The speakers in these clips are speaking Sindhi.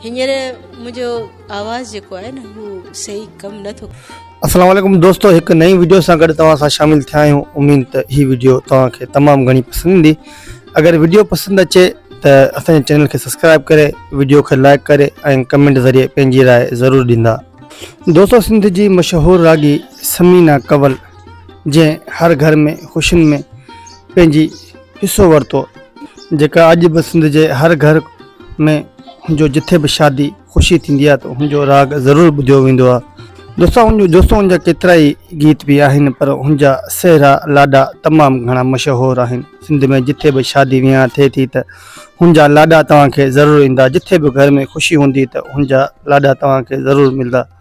هينئر منهنجو آواز جيڪو آهي نه هو صحيح ڪم نه ٿو. السلام عليڪم دوستو هڪ نئين وڊيو سان گڏ توهان سان شامل ٿيا آهيون اميد ته هي وڊيو توهان کي تمام گهڻي پسند ايندي اگر وڊيو پسند اچي ته اسان جي چينل کي سبسڪرائب ڪري وڊيو کي لائڪ ڪري ۽ ڪمينٽ ذريعي پنهنجي راء ضرور ڏيندا دوستو سنڌ جي مشهور راڳي ثمينه ڪول جنهن هر گهر ۾ خوشين ۾ پنهنجي. حصو ورتو جيڪا اڄ به سنڌ جي هر گهر ۾ هن جو جٿي به شادي خوشي ٿيندي آهي ته هن جو راڳ ضرور ٻڌيو ويندو آهي دوستان هن جو دوستو هن جا ڪيترا ئي گيت به آهن پر هن جا سهرا لاڏا تمام گهڻا مشهور آهن سنڌ ۾ جٿي به شادي ويهان ٿئي ٿي ته هن جا لاڏا توهان کي ضرور ايندا جٿي به گهر ۾ خوشي هوندي ته هن جا لاڏا توهان کي ضرور ملدا.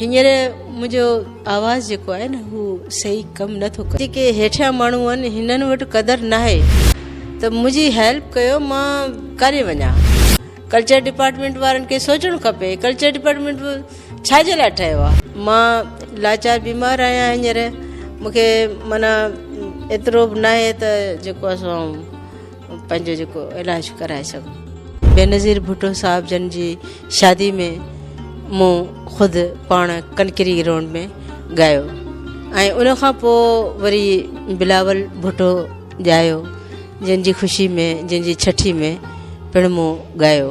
هينئر منهنجو آواز جيڪو آهي نه هو صحيح ڪم نه ٿو ڪري جيڪي هيٺيان ماڻهو آهن هنن وٽ قدر ناهي ته منهنجي هيلپ ڪيو مان ڪاڏي وڃان ڪلچر ڊپارٽمينٽ وارن کي سوچڻ کپي ڪلچر ڊپارٽمينٽ ڇا جي لاء ٺهيو آهي مان لاچار بيمار آهيان هينئر مونکي معنيٰ ايترو به ناهي ته جيڪو اسان پنهنجو جيڪو علاج ڪرائي سگهون بينظير ڀٽو صاحب جن جي شادي ۾ مون خود پاڻ ڪنڪري گرائونڊ ۾ ڳايو ۽ ان کان پوء وري بلاول ڀٽو ڄايو جن جي خوشي ۾ جن جي ڇٺي ۾ پڻ مون ڳايو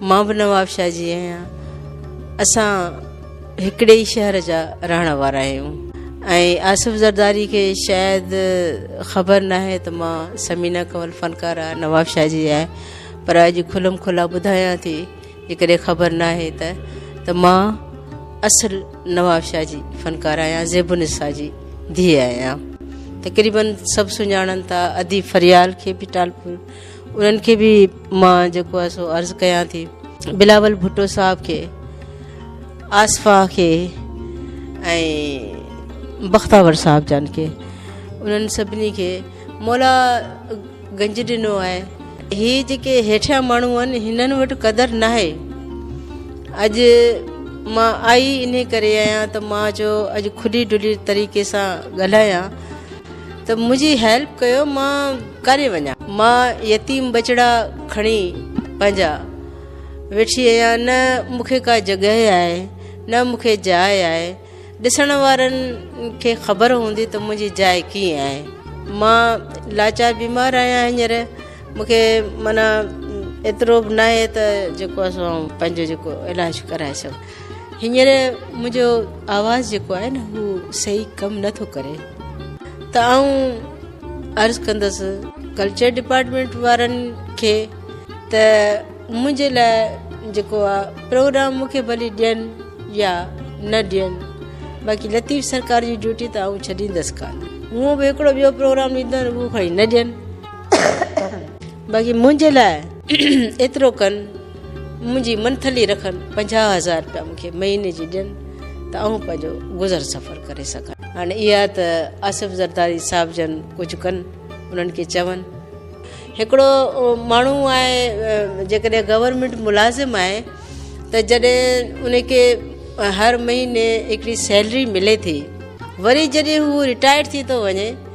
مان به نوابشاهه جي آهيان اسان هڪڙي ئي شهر جا رهڻ وارا آهيون ۽ آصف زرداري کي شايد خبر ناهي ته مان سمينا ڪنول فنڪاره نوابشاهه جي آهيان پر اڄ کلم کلا ٻڌايان ٿي جيڪڏهن خبر ناهي ته ته مان اصل نوابشاهه جي فنڪاره آهيان زيب النساء جي ڌيء آهيان تقريبن سڀ سڃاڻن ٿا اديب فريال کي به ٽالپور انهن کي به مان جيڪو آهي سو عرض ڪيان ٿي بلاول ڀٽو صاحب کي آصفا کي ۽ بختاور صاحب جان کي انهن سڀني کي مولا گنج ڏنو آهي هي جيڪي هيٺيان ماڻهو آهن هنن وٽ قدر نه آهي اڄ مان آئي ان ڪري آهيان ته مان جو اڄ کلي ڊلي طريقي سان ڳالهايان ته منهنجي هيلپ ڪيو مان ڪاڏي وڃان. مان يتيم ٻچڙا کڻي پنهنجا ويٺي آهيان نه مونکي ڪا جڳهه آهي نه مونکي جاء آهي ڏسڻ وارن کي خبر هوندي ته منهنجي جاء ڪيئن آهي مان لاچار بيمار آهيان هينئر مونکي معنيٰ ايترو به ناهي ته جيڪو اسان پنهنجو جيڪو علاج ڪرائي سگهون. هينئر منهنجو آواز جيڪو آهي نه هو صحيح ڪم نه ٿو ڪري ته آئون عرض ڪندس ڪلچر ڊپارٽمينٽ وارن کي ته منهنجي لاء جيڪو آهي پروگرام مون کي ڀلي ڏين يا نه ڏين باقي لطيف سرڪار جي ڊيوٽي ته آئون ڇڏيندس ڪانه هونء به هڪڙو ٻيو پروگرام ڏيندو آهيان اهو کڻي نه ڏين باقي منهنجي لاء ايترو ڪن منهنجي منٿلي رکن پنجاهه هزار رپيا مون کي مهيني جي ڏين ته آئون پنهنجو گذر سفر ڪري سگهان. هاڻي اها ته آصف زرداري صاحب جن ڪجهه ڪن انهن کي چون. هڪڙو ماڻهو آهي جيڪڏهن گورنمينٽ ملازم آهي ته جڏهن ان کي هر مهيني هڪڙي سيلري ملي ٿي وري جڏهن هو رٽائرڊ ٿي ٿو وڃي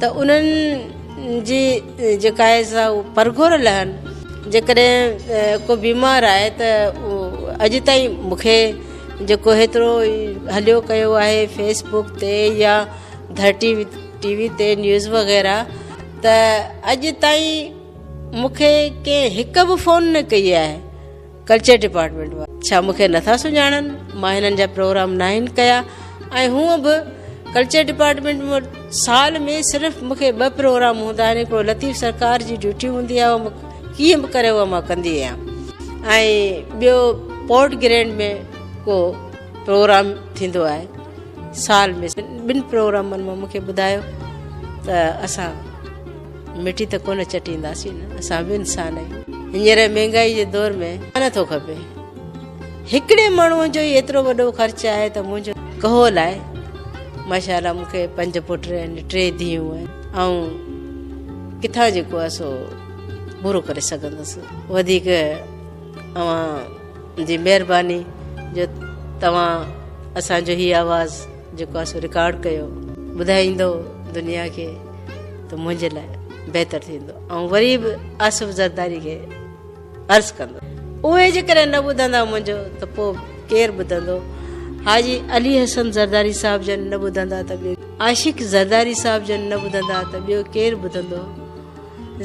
ته انهن جي جيڪا آهي سا پرگهور لهن جيڪڏهن ڪو بيمار آهي ته اڄ تائين مونکي جيڪو هيترو هليو ڪيو آهي فيس بڪ تي يا ڌرٽي ٽي وي تي نيوز وغيره ته اڄ تائين مونکي ڪنهن هڪ به فون نه ڪئي آهي ڪلچر ڊپارٽمينٽ وارا ڇا مون کي نٿا سڃاڻن مان هنن جا پروگرام ناهن ڪيا ۽ هونء به ڪلچر ڊپارٽمينٽ ۾ سال ۾ صرف مون کي ٻه پروگرام هوندا آهن هڪڙو لطيف سرڪار جي ڊيوٽي هوندي آهي اهو ڪيئن به ڪري اهو مان ڪندي آهيان ۽ ٻيو پورٽ گرينڊ ۾ ڪو پروگرام ٿيندو آهي سال ۾ ٻن پروگرامن مان مون کي ٻڌايو ته اسان مٺي ته ڪونه چٽينداسين اسان به انسان آهيون هينئر مهنگائي جي دور ۾ نه ٿو کپي هڪڙي ماڻهو جو ئي ايترو وڏو خرچ آهي ته منهنجو ڪهو لاء ماشاءالله مون کي پنج پٽ آهن ٽي ڌيون آهن ۽ ڪٿان جيڪو آهي سو پورو ڪري سگهندس وڌيڪ اوهان جي مهرباني جو توهان اسان جو هي آواز جيڪو اسو رڪارڊ ڪيو ٻڌائيندو دنيا کي ته منهنجي لاء بهتر ٿيندو ۽ وري به آصف زرداري کي عرض ڪندو اهي جيڪڏهن نه ٻڌندا منهنجو ته پوء ڪير ٻڌندو حاجي علي حسن زرداري صاحب جن نه ٻڌندا ته ٻيو عاشق زرداري صاحب جن نه ٻڌندا ته ٻيو ڪير ٻڌندو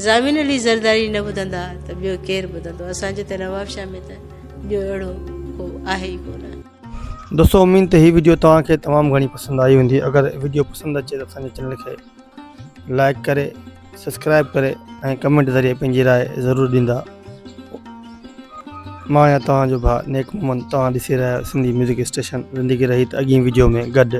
زامين علي زرداري نه ٻڌندا ته ٻيو ڪير ٻڌندو اسان جي ته نواب شاهه ۾ ته ٻيو اهڙو ڪو آهي ئي ڪونه دوستو اميد ته هي ويڊيو توهان کي تمام گهڻي پسند آئي هوندي اگر ويڊيو پسند اچي ته اسان جي چينل کي لائڪ ڪري سبسڪرائب ڪري ۽ ڪمينٽ ذريعي پنهنجي راء ضرور ڏيندا مان آهيان توهان جو ڀاء نيڪ محمد توهان ڏسي رهيا آهيو سنڌي ميوزڪ اسٽيشن زندگي رهي ته اڳين ويڊيو ۾ گڏ